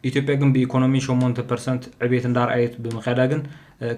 ኢትዮጵያ ግን ብኢኮኖሚ ሸሞንተ ፐርሰንት ዕቤት እንዳርኣየት ብምክያዳ ግን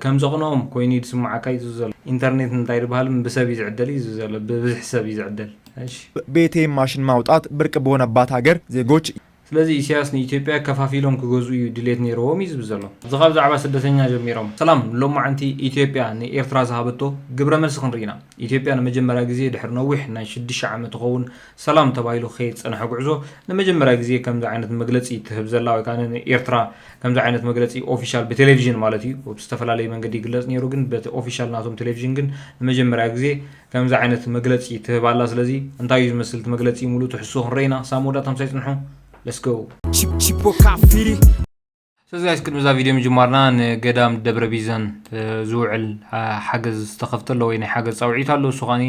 ከም ዘቅንኦም ኮይኑ እዩ ዝስምዓካ እዩ ዘሎ። ኢንተርኔት እንታይ ድብሃልም ብሰብ እዩ ዝዕደል እዩ ዘሎ ብብዝሒ ሰብ እዩ ዝዕደል እሺ። ብኤቲኤም ማሽን ማውጣት ብርቅ በሆነባት ሃገር ዜጎች። ስለዚ ኢሰያስ ንኢትዮጵያ ከፋፊሎም ክገዝኡ እዩ ድሌት ኔርዎም እዩ ዝብል ዘሎ። እዚ ካብ ዛዕባ ስደተኛ ጀሚሮም። ሰላም ሎማዓንቲ ኢትዮጵያ ንኤርትራ ዝሃበቶ ግብረ መልሲ ክንርኢ ኢና ኢትዮጵያ ንመጀመርያ ግዜ ድሕሪ ነዊሕ ናይ ሽድሽተ ዓመት ትኸውን ሰላም ተባሂሉ ክኸይድ ዝጸንሐ ጉዕዞ ንመጀመርያ ግዜ ከምዚ ዓይነት መግለጺ ትህብ ዘላ ወይ ከኣ ኤርትራ ከምዚ ዓይነት መግለጺ ኦፊሻል ብቴሌቪዥን ማለት እዩ ብዝተፈላለየ መንገዲ ይግለጽ ነይሩ ግን በቲ ኦፊሻል ናቶም ቴሌቪዥን ግን ንመጀመርያ ግዜ ከምዚ ዓይነት መግለጺ ትህብ ኣላ ስለዚ እንታይ እዩ ዝመስል እቲ መግለጺ ሙሉእ ትሕዝቶ ክንረኢና ሳብ መወዳእታ ምሳይ ጽንሑ Let's go Chipoca Firi ስለዚ ጋይስ ቅድሚ እዛ ቪድዮ ምጅማርና ንገዳም ደብረ ቢዘን ዝውዕል ሓገዝ ዝተኸፍተ ኣሎ ወይ ናይ ሓገዝ ፃውዒት ኣሎ እሱ ከዓኒ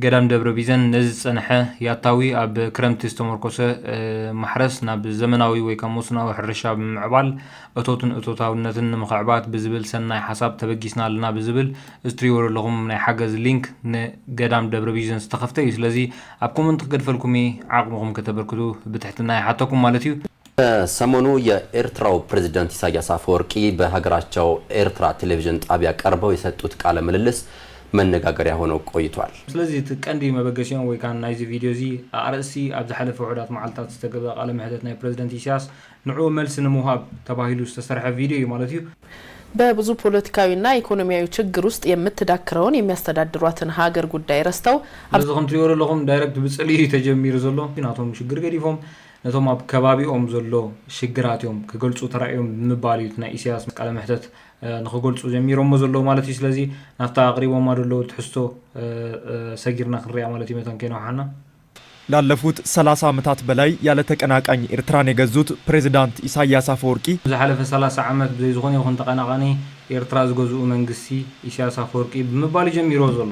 ገዳም ደብረ ቢዘን ነዚ ዝፀንሐ ያታዊ ኣብ ክረምቲ ዝተመርኮሰ ማሕረስ ናብ ዘመናዊ ወይ ካብ መስኖዊ ሕርሻ ብምምዕባል እቶትን እቶታውነትን ንምኽዕባት ብዝብል ሰናይ ሓሳብ ተበጊስና ኣለና ብዝብል እዚ ትሪእዎ ዘለኹም ናይ ሓገዝ ሊንክ ንገዳም ደብረ ቢዘን ዝተኸፍተ እዩ ስለዚ ኣብ ኮመንት ክገድፈልኩም ዓቕምኹም ከተበርክቱ ብትሕትና ይሓተኩም ማለት እዩ ከሰሞኑ የኤርትራው ፕረዚደንት ኢሳያስ ኣፈወርቂ በሀገራቸው ኤርትራ ቴሌቪዥን ጣቢያ ቀርበው የሰጡት ቃለ ምልልስ መነጋገሪያ ሆኖ ቆይቷል። ስለዚ እቲ ቀንዲ መበገሲኦም ወይ ካን ናይዚ ቪድዮ እዚ ኣኣርእስቲ ኣብ ዝሓለፈ ውሑዳት መዓልታት ዝተገብኣ ቃለ ምሕተት ናይ ፕረዚደንት ኢሳያስ ንዕኡ መልሲ ንምውሃብ ተባሂሉ ዝተሰርሐ ቪድዮ እዩ ማለት እዩ። በብዙ ፖለቲካዊና ኢኮኖሚያዊ ችግር ውስጥ የምትዳክረውን የሚያስተዳድሯትን ሀገር ጉዳይ ረስተው፣ ኣብ። ስለዚ ከምትሪኦ ዘለኹም ዳይረክት ብጽልኢ እዩ ተጀሚሩ ዘሎ። ናቶም ሽግር ገዲፎም ነቶም ኣብ ከባቢኦም ዘሎ ሽግራት እዮም ክገልጹ ተራእዮም ብምባል እዩ እቲ ናይ ኢሰያስ ቃለ መሕተት ንኽገልጹ ጀሚሮሞ ዘለዉ ማለት እዩ። ስለዚ ናብታ ኣቕሪቦማ ዘለዉ ትሕዝቶ ሰጊርና ክንሪኣ ማለት እዩ መታን ከይነውሓና። ላለፉት ሰላሳ ዓመታት በላይ ያለ ተቀናቃኝ ኤርትራን የገዙት ፕሬዝዳንት ኢሳይያስ አፈወርቂ፣ ንዝሓለፈ ሰላሳ ዓመት ብዘይ ዝኾነ ይኹን ተቀናቃኒ ኤርትራ ዝገዝኡ መንግስቲ ኢሳያስ ኣፈወርቂ ብምባል እዩ ጀሚርዎ ዘሎ።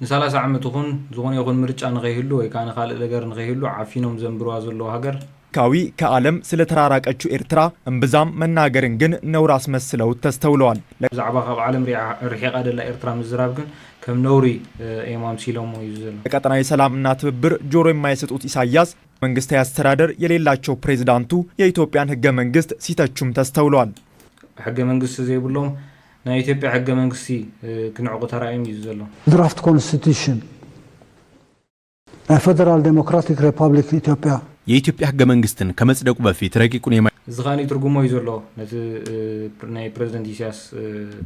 ንሳላሳ ዓመት ይኹን ዝኾነ ይኹን ምርጫ ንኸይህሉ ወይ ከኣ ንኻልእ ነገር ንኸይህሉ ዓፊኖም ዘንብርዋ ዘለዉ ሃገር። ካዊ ከኣለም ስለ ተራራቀቹ ኤርትራ እምብዛም መናገርን ግን ነውሪ ኣስመስለውት ተስተውለዋል። ለክ። ብዛዕባ ካብ ዓለም ሪዓ ርሒቃ ደላ ኤርትራ ምዝራብ ግን ከም ነውሪ እዮም ኣምሲሎሞ እዩ ዘሎ። ለቀጠናዊ ሰላም እና ትብብር ጆሮ የማይሰጡት ኢሳያስ መንግስታዊ ኣስተዳደር የሌላቸው ፕሬዝዳንቱ የኢትዮጵያን ህገ መንግስት ሲተቹም ተስተውለዋል። ሕገ መንግስት ዘይብሎም ናይ ኢትዮጵያ ሕገ መንግስቲ ክንዕቁ ተራእዩም እዩ ዘሎ። ድራፍት ኮንስቲትዩሽን ናይ ፈደራል ደሞክራቲክ ሬፓብሊክ ኢትዮጵያ። የኢትዮጵያ ሕገ መንግስትን ከመፅደቁ በፊት ረቂቁን የማይ። እዚ ከኣ ይትርጉሞ እዩ ዘሎ ነቲ ናይ ፕረዚደንት ኢሳያስ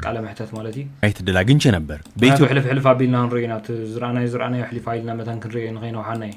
ቃለ መሕተት ማለት እዩ። ማይትድል ኣግኝቼ ነበር። ምክንያቱ ሕልፍ ሕልፍ ኣቢልና ክንሪኦ ኢና እቲ ዝረኣናዮ ዝረኣናዮ ኣሕሊፋ ኢልና መታን ክንሪኦ ንከይነውሓና እዩ።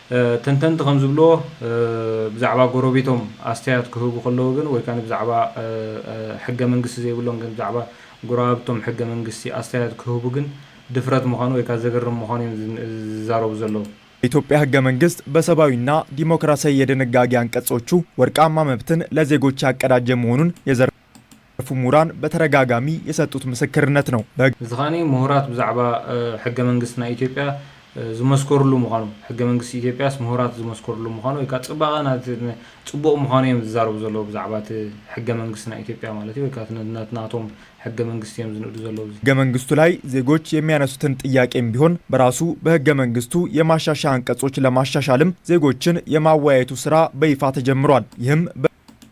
ተንተንቲ ከም ዝብልዎ፣ ብዛዕባ ጎረቤቶም ኣስተያየት ክህቡ ከለዉ ግን ወይ ከኣ ብዛዕባ ሕገ መንግስቲ ዘይብሎም ግን ብዛዕባ ጎረባብቶም ሕገ መንግስቲ ኣስተያየት ክህቡ ግን ድፍረት ምዃኑ ወይ ከኣ ዘገርም ምዃኑ እዮም ዝዛረቡ ዘለዉ። የኢትዮጵያ ሕገ መንግስት በሰባዊና ዲሞክራሲያዊ የደነጋጊ አንቀጾቹ ወርቃማ መብትን ለዜጎች ያቀዳጀ መሆኑን የዘር። ዘርፉ ምሁራን በተረጋጋሚ የሰጡት ምስክርነት ነው። እዚ ከኣ ምሁራት ብዛዕባ ሕገ መንግስት ናይ ኢትዮጵያ ዝመስከርሉ ምዃኑ፣ ሕገ መንግስት ኢትዮጵያስ ምሁራት ዝመስከርሉ ምዃኑ ወይ ከኣ ጽባቐ ናቲ ጽቡቕ ምዃኑ እዮም ዝዛረቡ ዘለዉ ብዛዕባ እቲ ሕገ መንግስት ናይ ኢትዮጵያ ማለት እዩ ወይ ከኣ ነቲ ናቶም ሕገ መንግስት እዮም ዝንእዱ ዘለዉ እዚ ሕገ መንግስቱ ላይ ዜጎች የሚያነሱትን ጥያቄም ቢሆን በራሱ በሕገ መንግስቱ የማሻሻያ አንቀጾች ለማሻሻልም ዜጎችን የማወያየቱ ስራ በይፋ ተጀምሯል ይህም በ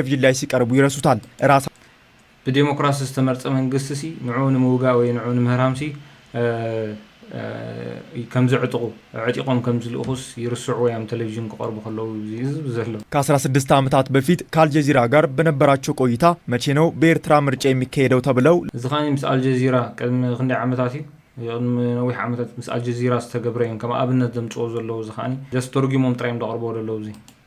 ኤቭጅን ላይ ሲቀርቡ ይረሱታል እራሳ። ብዴሞክራሲ ዝተመርፀ መንግስቲ ሲ ንዑ ንምውጋእ ወይ ንዑ ንምህራም ሲ ከምዘዕጥቑ ኣዕጢቖም ከምዝልእኹስ ይርስዑ ወይ ኣም ተለቪዥን ክቐርቡ ከለዉ እዚ ዝብ ዘሎ። ከአስራ ስድስት ዓመታት በፊት ከአልጀዚራ ጋር በነበራቸው ቆይታ መቼ ነው በኤርትራ ምርጫ የሚካሄደው ተብለው፣ እዚ ከኣ ምስ ኣልጀዚራ ቅድሚ ክንደይ ዓመታት እዩ ቅድሚ ነዊሕ ዓመታት ምስ ኣልጀዚራ ዝተገብረ እዮም ከም ኣብነት ዘምጽዎ ዘለዉ እዚ ከኣ ጀስት ተርጉሞም ጥራይ እዮም ዘቅርብዎ ዘለዉ እዚ።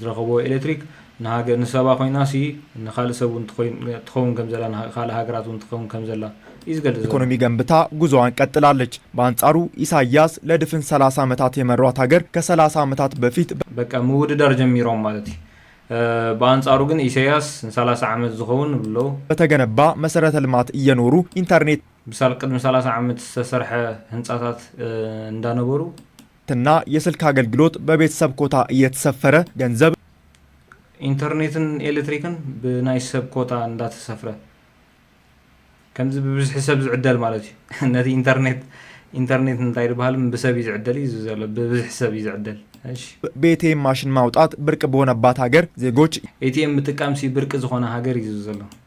ዝረኸቦ ኤሌክትሪክ ንሃገር ንሰባ ኮይናሲ ንካልእ ሰብ እውን ትኸውን ከምዘላ ንካልእ ሃገራት እውን ትኸውን ከምዘላ እዩ ዝገልፅ ዘሎ። ኢኮኖሚ ገንብታ ጉዞዋን ቀጥላለች። በኣንጻሩ ኢሳይያስ ለድፍን ሰላሳ ዓመታት የመሯት ሃገር ከሰላሳ ዓመታት በፊት በ። በቃ ምውድዳር ጀሚሮም ማለት እዩ። በኣንጻሩ ግን ኢሳይያስ ንሰላሳ ዓመት ዝኸውን ብሎ። በተገነባ መሰረተ ልማት እየኖሩ ኢንተርኔት። ብሳል ቅድሚ ሰላሳ ዓመት ዝተሰርሐ ህንጻታት እንዳነበሩ። ትና የስልክ ኣገልግሎት በቤተሰብ ኮታ እየተሰፈረ ገንዘብ። ኢንተርኔትን ኤለትሪክን ብናይ ሰብ ኮታ እንዳተሰፍረ ከምዚ ብብዝሒ ሰብ ዝዕደል ማለት እዩ ነቲ ኢንተርኔት ኢንተርኔት እንታይ ድበሃልም ብሰብ እዩ ዝዕደል እዩ ዘሎ ብብዝሒ ሰብ እዩ ዝዕደል እሺ ቤቴም ማሽን ማውጣት ብርቅ በሆነባት ሀገር ዜጎች ኤቲኤም ምጥቃምሲ ብርቂ ዝኾነ ሃገር እዩ ዘሎ።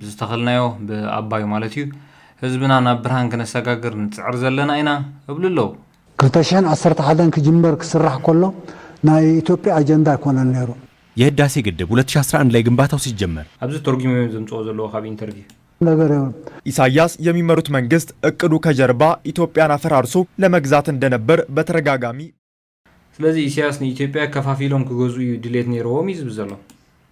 ብዝተኸልናዮ ብኣባዩ ማለት እዩ ህዝብና ናብ ብርሃን ክነሰጋግር ንጽዕር ዘለና ኢና እብሉ ኣለዉ። ክልተ ሽሕን ዓሰርተ ሓደን ክጅመር ክስራሕ ከሎ ናይ ኢትዮጵያ ኣጀንዳ ኣይኮነን ነይሩ። የህዳሴ ግድብ ሁለት ሺህ ኣስራ አንድ ላይ ግንባታው ሲጀመር። ኣብዚ ተርጉሞም እዮም ዘምጽኦ ዘለዎ ካብ ኢንተርቪው። ነገር የብሉን። ኢሳያስ የሚመሩት መንግስት እቅዱ ከጀርባ ኢትዮጵያን አፈራርሶ ለመግዛት እንደነበር በተረጋጋሚ። ስለዚ ኢሰያስ ንኢትዮጵያ ከፋፊሎም ክገዝኡ እዩ ድሌት ነይሮዎም እዩ ዝብል ዘሎ።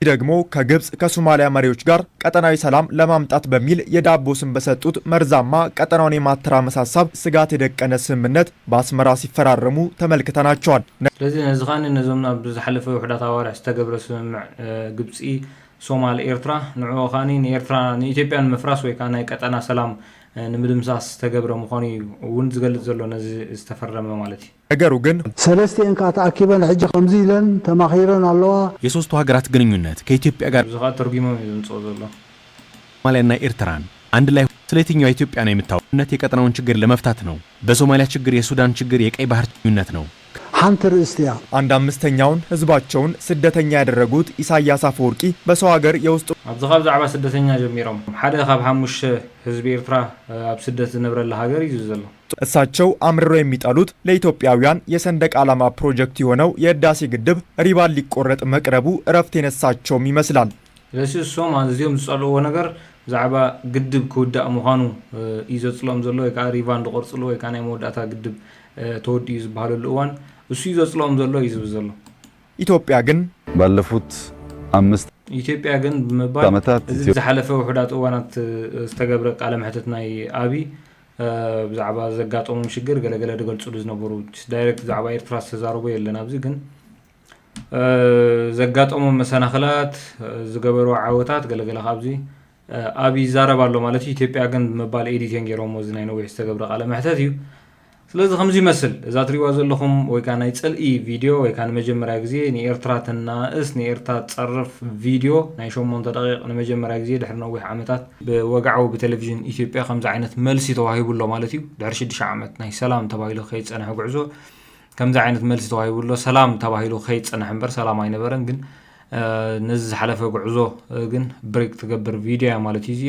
ይህ ደግሞ ከግብጽ ከሱማሊያ መሪዎች ጋር ቀጠናዊ ሰላም ለማምጣት በሚል የዳቦ ስም በሰጡት መርዛማ ቀጠናውን የማተራመስ ሀሳብ ስጋት የደቀነ ስምምነት በአስመራ ሲፈራረሙ ተመልክተናቸዋል። ስለዚ ነዚ ከኣ ነዞም ኣብ ዝሓለፈ ውሑዳት ኣዋርሕ ዝተገብረ ስምምዕ ግብጺ ሶማል ኤርትራ ንዕኡ ከኣ ንኤርትራ ንኢትዮጵያ ንምፍራስ ወይ ከኣ ናይ ቀጠና ሰላም ንምድምሳስ ዝተገብረ ምዃኑ እዩ እውን ዝገልጽ ዘሎ ነዚ ዝተፈረመ ማለት እዩ። ነገሩ ግን። ሰለስቲኤን ከኣ ተኣኪበን ሕጂ ከምዚ ኢለን ተማኺረን ኣለዋ። የሶስቱ ሃገራት ግንኙነት ከኢትዮጵያ ጋር። እዚ ከኣ ተርጉሞም እዩ ዘምጽኦ ዘሎ። ሶማልያን ናይ ኤርትራን ኣንድ ላይ ሆነው ስለ የትኛው ኢትዮጵያ ነው የምታወሩ ግንኙነት የቀጠናውን ችግር ለመፍታት ነው በሶማልያ ችግር የሱዳን ችግር የቀይ ባህር ችግኙነት ነው ከ። ሓንቲ ርእስቲ እያ። ኣንድ ኣምስተኛውን ህዝባቸውን ስደተኛ ያደረጉት ኢሳያስ ኣፈወርቂ በሰው ሃገር የውስጥ። ኣብዚ ካብ ዛዕባ ስደተኛ ጀሚሮም። ሓደ ካብ ሓሙሽተ ህዝቢ ኤርትራ ኣብ ስደት ዝነብረላ ሃገር እዩ ዘሎ። እሳቸው አምርረው የሚጠሉት ለኢትዮጵያውያን የሰንደቅ ዓላማ ፕሮጀክት የሆነው የህዳሴ ግድብ ሪባን ሊቆረጥ መቅረቡ እረፍት የነሳቸውም ይመስላል። ስለሲ እሶም ኣዝዮም ዝጸልእዎ ነገር ብዛዕባ ግድብ ክውዳእ ምዃኑ እዩ ዘጽልኦም ዘሎ ወይ ከኣ ሪቫን ዝቆርጽሉ ወይ ከኣ ናይ መወዳእታ ግድብ ተወዲኡ ዝበሃለሉ እዋን እሱ እዩ ዘጽልኦም ዘሎ እዩ ዝብል ዘሎ። ኢትዮጵያ ግን። ባለፉት ኣምስት። ኢትዮጵያ ግን ብምባል ዓመታት እዚ ኢትዮ። ዝሓለፈ ውሑዳት እዋናት ዝተገብረ ቃለ መሕትት ናይ ኣብይ ብዛዕባ ዘጋጠሞም ሽግር ገለገለ ድገልፅሉ ዝነበሩ ዳይረክት ብዛዕባ ኤርትራ ዝተዛረቦ የለን ኣብዚ ግን ዘጋጠሞም መሰናክላት ዝገበሩ ዓወታት ገለገለ ካብዚ ኣብ ይዛረብ ኣሎ ማለት እዩ ኢትዮጵያ ግን ብምባል ኤዲቴን ገይሮሞ እዚ ናይ ነዊሕ ዝተገብረ ቃለ መሕተት እዩ ስለዚ ከምዚ ይመስል እዛ ትሪዋ ዘለኹም ወይ ከዓ ናይ ፅልኢ ቪድዮ ወይ ከዓ ንመጀመርያ ግዜ ንኤርትራ ተናእስ ንኤርትራ ትፀርፍ ቪድዮ ናይ ሸሞንተ ደቂቕ ንመጀመርያ ግዜ ድሕሪ ነዊሕ ዓመታት ብወግዓዊ ብቴሌቪዥን ኢትዮጵያ ከምዚ ዓይነት መልሲ ተዋሂቡ ኣሎ ማለት እዩ። ድሕሪ ሽዱሽተ ዓመት ናይ ሰላም ተባሂሉ ከይጸንሐ ጉዕዞ ከምዚ ዓይነት መልሲ ተዋሂቡ ኣሎ። ሰላም ተባሂሉ ከይጸንሐ እምበር ሰላም ኣይነበረን ግን ነዚ ዝሓለፈ ጉዕዞ ግን ብሬክ ትገብር ቪድዮ እያ ማለት እዩ እዚኣ።